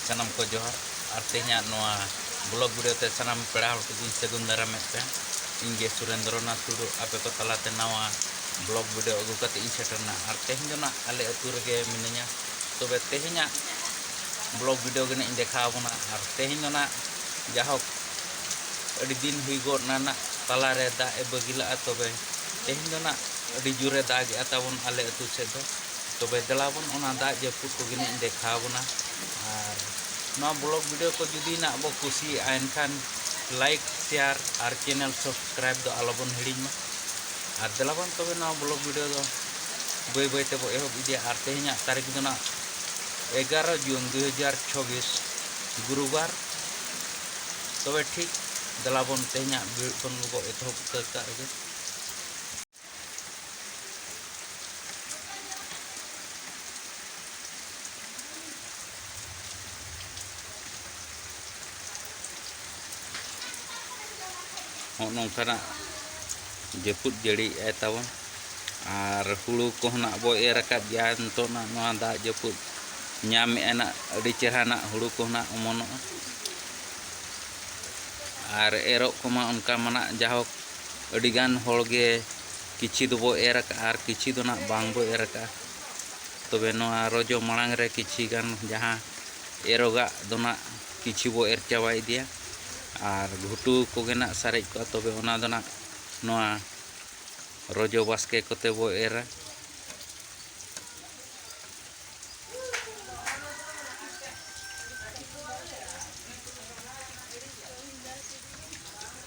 ᱥᱟᱱᱟᱢ ᱠᱚ ᱡᱚᱦᱟᱨ ᱟᱨ ᱛᱮᱦᱮᱧᱟᱜ ᱱᱚᱣᱟ ᱵᱞᱚᱜ ᱵᱷᱤᱰᱤᱭᱳ ᱛᱮ ᱥᱟᱱᱟᱢ ᱯᱮᱲᱟ ᱦᱚᱲ ᱠᱚᱫᱚᱧ ᱥᱟᱹᱜᱩᱱ ᱫᱟᱨᱟᱢᱮᱫ ᱯᱮ ᱤᱧ ᱜᱮ ᱥᱩᱨᱮᱱᱫᱨᱚ ᱱᱟᱛᱷ ᱴᱩᱰᱩ ᱟᱯᱮ ᱠᱚ ᱛᱟᱞᱟᱛᱮ ᱱᱟᱣᱟ ᱵᱞᱚᱜ ᱵᱷᱤᱰᱤᱭᱳ ᱟᱹᱜᱩ ᱠᱟᱛᱮ ᱤᱧ ᱥᱮᱴᱮᱨᱱᱟ ᱟᱨ ᱛᱮᱦᱮᱧ ᱫᱚ ᱱᱟᱜ ᱟᱞᱮ ᱟᱹᱛᱩ ᱨᱮᱜᱮ ᱢᱤᱱᱟᱹᱧᱟ ᱛᱚᱵᱮ ᱛᱮᱦᱮᱧᱟᱜ ᱵᱞᱚᱜ ᱵᱷᱤᱰᱤᱭᱳ ᱜᱮ ᱱᱟᱜ ᱤᱧ ᱫᱮᱠᱷᱟᱣ ᱟᱵᱚᱱᱟ ᱟᱨ ᱛᱮᱦᱮᱧ ᱫᱚ ᱱᱟᱜ ᱡᱟᱦᱳᱠ ᱟᱹᱰᱤ ᱫᱤᱱ ᱦᱩᱭ ᱜᱚᱫ ᱱᱟ ᱱᱟᱜ ᱛᱟᱞᱟᱨᱮ ᱫᱟᱜ ᱮ ᱵᱟᱹᱜᱤ ᱞᱟᱜᱼᱟ ᱛᱚᱵᱮ ᱛᱮᱦᱮᱧ ᱫᱚ ᱱᱟᱜ ᱟᱹᱰᱤ ᱡᱳᱨᱮ ᱫᱟᱜᱮᱜᱼᱟ ᱛᱟᱵᱚᱱ ᱟᱞᱮ ᱟᱹᱛᱩ ᱥᱮᱫ ᱫᱚ ᱛᱚᱵᱮ ᱫᱮᱞᱟ ᱵᱚᱱ ᱚᱱᱟ ᱫᱟᱜ ᱡᱟᱹᱯᱩᱫ ᱠᱚᱜᱮ ᱱᱟᱜ ᱤᱧ ᱫᱮᱠᱷᱟᱣ ᱵᱚᱱᱟ ᱟᱨ ᱱᱚᱣᱟ ᱵᱞᱚᱜ ᱵᱷᱤᱰᱤᱭᱳ ᱠᱚ ᱡᱩᱫᱤ ᱱᱟᱜ ᱵᱚ ᱠᱩᱥᱤᱭᱟᱜᱼᱟ ᱮᱱᱠᱷᱟᱱ ᱞᱟᱭᱤᱠ ᱥᱮᱭᱟᱨ ᱟᱨ ᱪᱮᱱᱮᱞ ᱥᱟᱵᱥᱠᱨᱟᱭᱤᱵ ᱫᱚ ᱟᱞᱚ ᱵᱚᱱ ᱦᱤᱲᱤᱧ ᱢᱟ ᱟᱨ ᱫᱮᱞᱟ ᱵᱚᱱ ᱛᱚᱵᱮ ᱱᱚᱣᱟ ᱵᱞᱚᱜ ᱵᱷᱤᱰᱤᱭᱳ ᱫᱚ ᱵᱟᱹᱭ ᱵᱟᱹᱭ ᱛᱮᱵᱚ ᱮᱦᱚᱵ ᱤᱫᱤᱭᱟ ᱟᱨ ᱛᱮᱦᱮᱧᱟᱜ ᱛᱟᱹᱨᱤᱠᱷ ᱫᱚ ᱱᱟᱜ ᱮᱜᱟᱨᱚ ᱡᱩᱱ ᱫᱩ ᱦᱟᱡᱟᱨ ᱪᱷᱚᱵᱤᱥ ᱜᱩᱨᱩᱵᱟᱨ ᱛᱚᱵᱮ ᱴᱷᱤᱠ ᱫᱮᱞᱟ ᱵᱚᱱ ᱛᱮᱦᱮᱧᱟᱜ ᱵᱷᱤᱲ ᱠᱷᱚᱱ ᱜᱮᱵᱚ ᱮᱛᱚᱦᱚᱵ ᱩᱛᱟᱹᱨ ᱠᱟᱜ ᱨᱮᱜᱮ ᱦᱚᱸᱜ ᱱᱚᱝᱠᱟᱱᱟᱜ ᱡᱟᱹᱯᱩᱫ ᱡᱟᱹᱲᱤᱭᱮᱫᱼᱟᱭ ᱛᱟᱵᱚᱱ ᱟᱨ ᱦᱩᱲᱩ ᱠᱚᱦᱚᱸ ᱱᱟᱜ ᱵᱚ ᱮᱨ ᱟᱠᱟᱫ ᱜᱮᱭᱟ ᱱᱤᱛᱚᱜ ᱱᱟᱜ ᱱᱚᱣᱟ ᱫᱟᱜ ᱡᱟᱹᱯᱩᱫ ᱧᱟᱢᱮᱫᱼᱟ ᱱᱟᱜ ᱟᱹᱰᱤ ᱪᱮᱦᱨᱟ ᱱᱟᱜ ᱦᱩᱲᱩ ᱠᱚᱦᱚᱸ ᱱᱟᱜ ᱚᱢᱚᱱᱚᱜᱼᱟ ᱟᱨ ᱮᱨᱚᱜ ᱠᱚᱢᱟ ᱚᱱᱠᱟ ᱢᱟ ᱱᱟᱜ ᱡᱟᱭᱦᱳᱠ ᱟᱹᱰᱤ ᱜᱟᱱ ᱦᱚᱲ ᱜᱮ ᱠᱤᱪᱷᱤ ᱫᱚᱵᱚ ᱮᱨ ᱟᱠᱟᱫᱼᱟ ᱟᱨ ᱠᱤᱪᱷᱤ ᱫᱚ ᱱᱟᱜ ᱵᱟᱝ ᱵᱚ ᱮᱨ ᱟᱠᱟᱫᱼᱟ ᱛᱚᱵᱮ ᱱᱚᱣᱟ ᱨᱚᱡᱚ ᱢᱟᱲᱟᱝ ᱨᱮ ᱠᱤᱪᱷᱤ ᱜᱟᱱ ᱡᱟᱦᱟᱸ ᱮᱨᱚᱜᱟᱜ ᱫᱚ ᱱᱟᱜ ᱠᱤᱪᱷᱤ ᱵᱚ ᱮᱨ ᱪᱟᱵᱟ ᱤᱫᱤᱭᱟ ᱟᱨ ᱜᱷᱩᱴᱩ ᱠᱚᱜᱮ ᱱᱟᱜ ᱥᱟᱨᱮᱡ ᱠᱚᱜᱼᱟ ᱛᱚᱵᱮ ᱚᱱᱟ ᱫᱚ ᱱᱟᱜ ᱱᱚᱣᱟ ᱨᱚᱡᱚ ᱵᱟᱥᱠᱮ ᱠᱚᱛᱮ ᱵᱚ ᱮᱨᱟ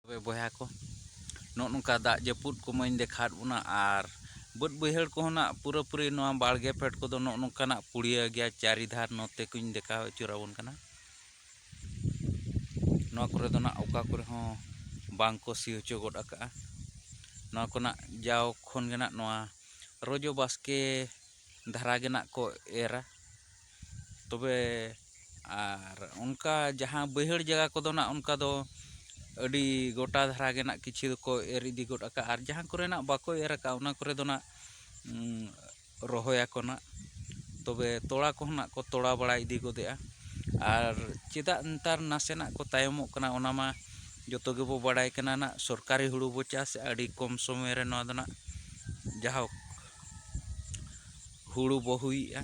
ᱛᱚᱵᱮ ᱵᱚᱭᱦᱟ ᱠᱚ ᱱᱚᱜ ᱱᱚᱝᱠᱟ ᱫᱟᱜ ᱡᱟᱹᱯᱩᱫ ᱠᱚᱢᱟᱹᱧ ᱫᱮᱠᱷᱟᱣᱟᱫ ᱵᱚᱱᱟ ᱟᱨ ᱵᱟᱹᱫᱽ ᱵᱟᱹᱭᱦᱟᱹᱲ ᱠᱚᱦᱚᱸ ᱱᱟᱜ ᱯᱩᱨᱟᱹᱯᱩᱨᱤ ᱱᱚᱣᱟ ᱵᱟᱲᱜᱮ ᱯᱷᱮᱰ ᱠᱚᱫᱚ ᱱᱚᱜ ᱱᱚᱝᱠᱟᱱᱟᱜ ᱯᱩᱲᱤᱭᱟᱹ ᱜᱮᱭᱟ ᱪᱟᱹᱨᱤ ᱫᱷᱟᱨ ᱱᱚᱛᱮ ᱠᱚᱧ ᱫᱮᱠᱷᱟᱣ ᱟᱹᱪᱩᱨ ᱟᱵᱚᱱ ᱠᱟᱱᱟ ᱱᱚᱣᱟ ᱠᱚᱨᱮ ᱫᱚ ᱱᱟᱜ ᱚᱠᱟ ᱠᱚᱨᱮ ᱦᱚᱸ ᱵᱟᱝ ᱠᱚ ᱥᱤ ᱦᱚᱪᱚ ᱜᱚᱫ ᱟᱠᱟᱜᱼᱟ ᱱᱚᱣᱟ ᱠᱚᱨᱮᱱᱟᱜ ᱡᱟᱣ ᱠᱷᱚᱱ ᱜᱮ ᱱᱟᱜ ᱱᱚᱣᱟ ᱨᱚᱡᱚ ᱵᱟᱥᱠᱮ ᱫᱷᱟᱨᱟ ᱜᱮ ᱱᱟᱜ ᱠᱚ ᱮᱨᱟ ᱛᱚᱵᱮ ᱟᱨ ᱚᱱᱠᱟ ᱡᱟᱦᱟᱸ ᱵᱟᱹᱭᱦᱟᱹᱲ ᱡᱟᱭᱜᱟ ᱠᱚᱫᱚ ᱱᱟᱜ ᱚᱱᱠᱟ ᱫᱚ ᱟᱹᱰᱤ ᱜᱚᱴᱟ ᱫᱷᱟᱨᱟ ᱜᱮ ᱱᱟᱜ ᱠᱤᱪᱷᱩ ᱫᱚᱠᱚ ᱮᱨ ᱤᱫᱤ ᱜᱚᱫ ᱠᱟᱜᱼᱟ ᱟᱨ ᱡᱟᱦᱟᱸ ᱠᱚᱨᱮ ᱱᱟᱜ ᱵᱟᱠᱚ ᱮᱨ ᱠᱟᱜᱼᱟ ᱚᱱᱟ ᱠᱚᱨᱮ ᱫᱚ ᱱᱟᱜ ᱨᱚᱦᱚᱭᱟᱠᱚ ᱱᱟᱜ ᱛᱚᱵᱮ ᱛᱚᱲᱟ ᱠᱚᱦᱚᱸ ᱱᱟᱜ ᱠᱚ ᱛᱚᱲᱟ ᱵᱟᱲᱟ ᱤᱫᱤ ᱜᱚᱫᱮᱜᱼᱟ ᱟᱨ ᱪᱮᱫᱟᱜ ᱱᱮᱛᱟᱨ ᱱᱟᱥᱮᱱᱟᱜ ᱠᱚ ᱛᱟᱭᱚᱢᱚᱜ ᱠᱟᱱᱟ ᱚᱱᱟ ᱢᱟ ᱡᱚᱛᱚ ᱜᱮᱵᱚ ᱵᱟᱲᱟᱭ ᱠᱟᱱᱟ ᱱᱟᱜ ᱥᱚᱨᱠᱟᱨᱤ ᱦᱩᱲᱩ ᱵᱚ ᱪᱟᱥᱮᱜᱼᱟ ᱟᱹᱰᱤ ᱠᱚᱢ ᱥᱚᱢᱚᱭ ᱨᱮ ᱱᱚᱣᱟ ᱫᱚ ᱱᱟᱜ ᱡᱟᱭᱦᱳᱠ ᱦᱩᱲᱩ ᱵᱚ ᱦᱩᱭᱮᱜᱼᱟ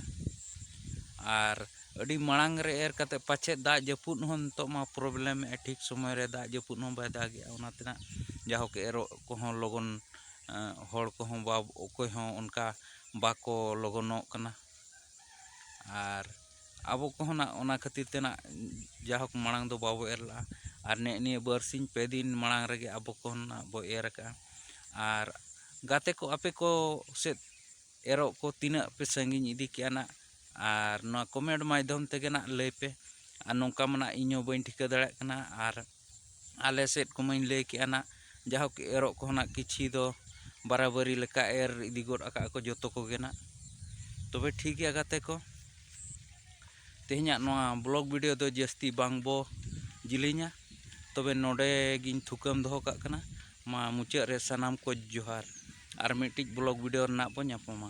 ᱟᱨ ᱟᱹᱰᱤ ᱢᱟᱲᱟᱝ ᱨᱮ ᱮᱨ ᱠᱟᱛᱮ ᱯᱟᱪᱮᱫ ᱫᱟᱜ ᱡᱟᱹᱯᱩᱫ ᱦᱚᱸ ᱱᱤᱛᱳᱜ ᱢᱟ ᱯᱨᱚᱵᱞᱮᱢᱮᱜᱼᱟᱭ ᱴᱷᱤᱠ ᱥᱚᱢᱚᱭ ᱨᱮ ᱫᱟᱜ ᱡᱟᱹᱯᱩᱫ ᱦᱚᱸ ᱵᱟᱭ ᱫᱟᱜᱮᱜᱼᱟ ᱚᱱᱟᱛᱮ ᱱᱟᱜ ᱡᱟᱭᱦᱳᱠ ᱮᱨᱚᱜ ᱠᱚᱦᱚᱸ ᱞᱚᱜᱚᱱ ᱦᱚᱲ ᱠᱚᱦᱚᱸ ᱵᱟᱵᱚ ᱚᱠᱚᱭ ᱦᱚᱸ ᱚᱱᱠᱟ ᱵᱟᱠᱚ ᱞᱚᱜᱚᱱᱚᱜ ᱠᱟᱱᱟ ᱟᱨ ᱟᱵᱚ ᱠᱚᱦᱚᱸ ᱱᱟᱜ ᱚᱱᱟ ᱠᱷᱟᱹᱛᱤᱨ ᱛᱮ ᱱᱟᱜ ᱡᱟᱭᱦᱳᱠ ᱢᱟᱲᱟᱝ ᱫᱚ ᱵᱟᱵᱚ ᱮᱨ ᱞᱟᱜᱼᱟ ᱟᱨ ᱱᱮᱜᱼᱮ ᱱᱤᱭᱟᱹ ᱵᱟᱨᱥᱤᱧ ᱯᱮ ᱫᱤᱱ ᱢᱟᱲᱟᱝ ᱨᱮᱜᱮ ᱟᱵᱚ ᱠᱚᱦᱚᱸ ᱱᱟᱜ ᱵᱚ ᱮᱨ ᱠᱟᱜᱼᱟ ᱟᱨ ᱜᱟᱛᱮ ᱠᱚ ᱟᱯᱮ ᱠᱚ ᱥᱮᱫ ᱮᱨᱚᱜ ᱠᱚ ᱛᱤᱱᱟᱹᱜ ᱯᱮ ᱥᱟᱺᱜᱤᱧ ᱤᱫᱤ ᱠᱮᱜᱼᱟ ᱱᱟᱜ ᱟᱨ ᱱᱚᱣᱟ ᱠᱚᱢᱮᱱᱴ ᱢᱟᱫᱽᱫᱷᱚᱢ ᱛᱮᱜᱮ ᱱᱟᱜ ᱞᱟᱹᱭ ᱯᱮ ᱟᱨ ᱱᱚᱝᱠᱟ ᱢᱟ ᱱᱟᱜ ᱤᱧ ᱦᱚᱸ ᱵᱟᱹᱧ ᱴᱷᱤᱠᱟᱹ ᱫᱟᱲᱮᱭᱟᱜ ᱠᱟᱱᱟ ᱟᱨ ᱟᱞᱮ ᱥᱮᱫ ᱠᱚᱢᱟᱧ ᱞᱟᱹᱭ ᱠᱮᱜᱼᱟ ᱱᱟᱜ ᱡᱟᱭᱦᱳᱠ ᱮᱨᱚᱜ ᱠᱚᱦᱚᱸ ᱱᱟᱜ ᱠᱤᱪᱷᱤ ᱫᱚ ᱵᱟᱨᱟ ᱵᱟᱹᱨᱤ ᱞᱮᱠᱟ ᱮᱨ ᱤᱫᱤ ᱜᱚᱫ ᱠᱟᱜᱼᱟ ᱠᱚ ᱡᱚᱛᱚ ᱠᱚᱜᱮ ᱱᱟᱜ ᱛᱚᱵᱮ ᱴᱷᱤᱠ ᱜᱮᱭᱟ ᱜᱟᱛᱮ ᱠᱚ ᱛᱮᱦᱮᱧᱟᱜ ᱱᱚᱣᱟ ᱵᱞᱚᱜ ᱵᱷᱤᱰᱤᱭᱳ ᱫᱚ ᱡᱟᱹᱥᱛᱤ ᱵᱟᱝ ᱵᱚ ᱡᱤᱞᱤᱧᱟ ᱛᱚᱵᱮ ᱱᱚᱰᱮ ᱜᱤᱧ ᱛᱷᱩᱠᱟᱹᱢ ᱫᱚᱦᱚ ᱠᱟᱜ ᱠᱟᱱᱟ ᱢᱟ ᱢᱩᱪᱟᱹᱫ ᱨᱮ ᱥᱟᱱᱟᱢ ᱠᱚ ᱡᱚᱦᱟᱨ ᱟᱨ ᱢᱤᱫᱴᱤᱡ ᱵᱞᱚᱜ ᱵᱷᱤᱰᱤᱭᱳ ᱨᱮᱱᱟᱜ ᱵᱚ ᱧᱟᱯᱟᱢᱟ